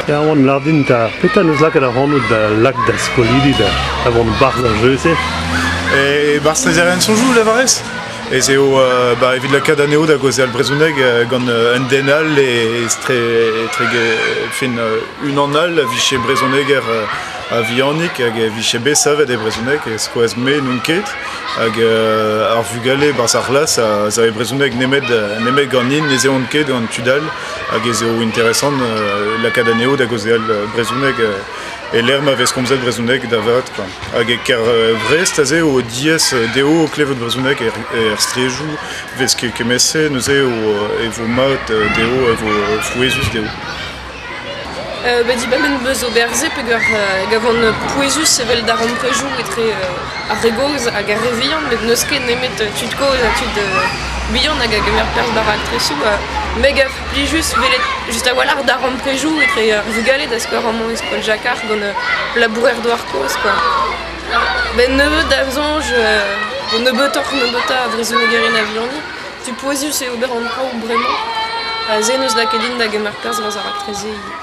Erwan, lar din 'ta, petra 'neus lakaet ac'hanout da lak da skolidi da vont 'barzh ar jeu-se? E 'barzh Trezerenn Sonjou, levarez? ez eo ba, evit lakaat anezho da gaozeal brezhoneg gant un den all e etre, etre fin, unan all a vije brezhoneger a vihanik hag e vije bet savet e brezhoneg e skoaz me n'on ket hag ar vugale barzh ar c'hlas a zave brezhoneg nemet, nemet ganin ne zehont ket gant tud all hag ez eo interesant lakaat anezho da gaozeal brezhoneg e-lec'h ma vez komzet brezhoneg da vat kwa. Hag e Kervrest aze eo diaes dezho klevout brezhoneg er straedoù 'vez kement-se neuze e vo mat dezho, e vo frouezhus dezho. Bah dibabenn 'beus ober-se peger van pouezus evel darempredoù etre ar re gozh hag ar re vihan met n'eus ket nemet tud kozh ha tud bihan hag a gemer perzh da raktresoù me gaf Plijus welet just a-walc'h da ramprezioù etre ar vugale da skouer amañ e skol Jakar gant ur labourer-douar kozh kwa. Benn nebeut da soñj vo nebeutoc'h nebeutañ a vrezhonegerien a vihaniñ. Tu pouezus eo ober an traoù bremañ. Se n'eus lakaet din da gemer perzh war ar raktres-se ivez.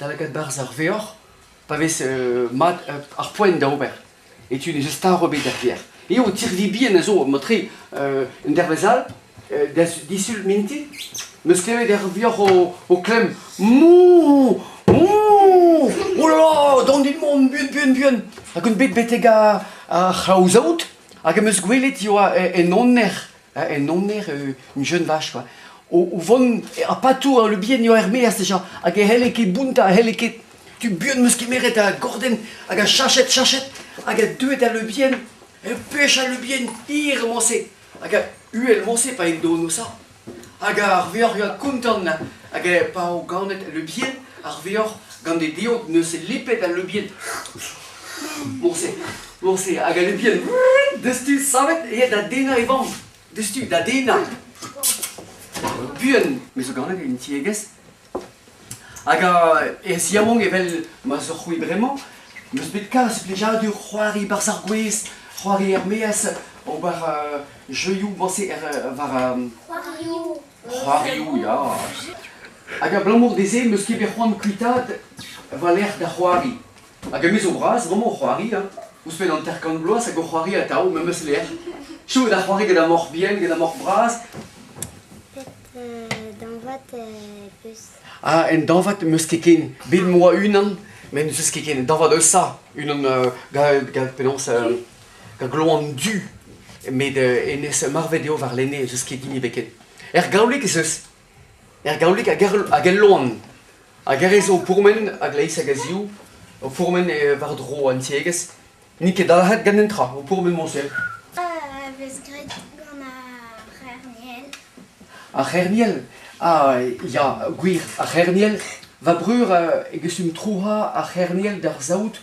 da lakaat barzh ar veor, pa vez mat ar poent da ober. E tu n'eus start ebet er gêr. Eo tirvi bihan a zo matre un dervezh all, da disul minti, meus klevet er vioc'h o, klemm Mou Mou Oula Don dit mont buan buan buan Hag un bet betek ar c'hlaozaout Hag em eus gwelet e oa en aner en aner, un jeune vache, quoi. O, o vont ar patou ar lubien eo er-meaz deja, hag e helle ket bounta, helle ket tu buan meus kemeret a gorden, hag a chachet, chachet, hag a deuet al lubien, e pech al lubien hir moñse, hag a uhel moñse pa en dono sa, hag ar veoc'h a kontan, hag e pa o ganet al lubien, ar vuoc'h gant e diod neuze lipet al leubien. Morse, morse, hag al leubien destu savet aet da dennañ e vamm. Destu, da dennañ. Buan, me zo ganet en tiegezh. Hag e ziamong evel ma zo c'hwi bremañ, meus bet kalz plijadur c'hoari barzh ar gwez, c'hoari er-maez, ober uh, jeuioù morse er, war... Um, C'hoarioù. C'hoarioù ya, hag abalamour dezhe em eus ket bet c'hoant kuitaat va lec'h da c'hoari. Hag me zo bras bremañ o c'hoari hein, ouzhpenn hanter-kant bloaz hag o c'hoari atav memes lec'h. Chomet da c'hoari gant ar moc'h bihan, gant ar moc'h bras. Dañvat peus? Ah, un dañvad m'eus ket ken. Bet 'moa unan met n'eus ket ken. Un dañvad eus ça, unan gant penaos... gloan du. Met uh, hennezh marvet eo warlene, ez eus ket hini ebet ken. Er gaolig ez eus. Er gaolig hag er, hag el loan. Hag er zo o pourmen a-gleiz hag a-ziv, o pourmen eh, war-dro an tiegezh. N'int ket dalc'het gant an tra, o pourmen moñsel. Ah, vez graet gant ar c'herniel. Ar c'herniel? Ah, ya, gwir, ar c'herniel. Va breur uh, e gesum trouha ar c'herniel d'ar saout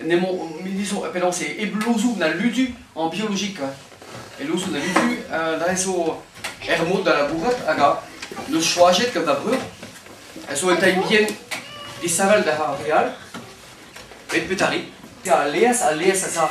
n'emañ milizoù penaos e blouzoù na ludu en biologik e louzoù na ludu da zo er mod da labourat hag a neus choajet gant da breur a zo un tailh bihan disheñvel da re all met petari a leas a leas a za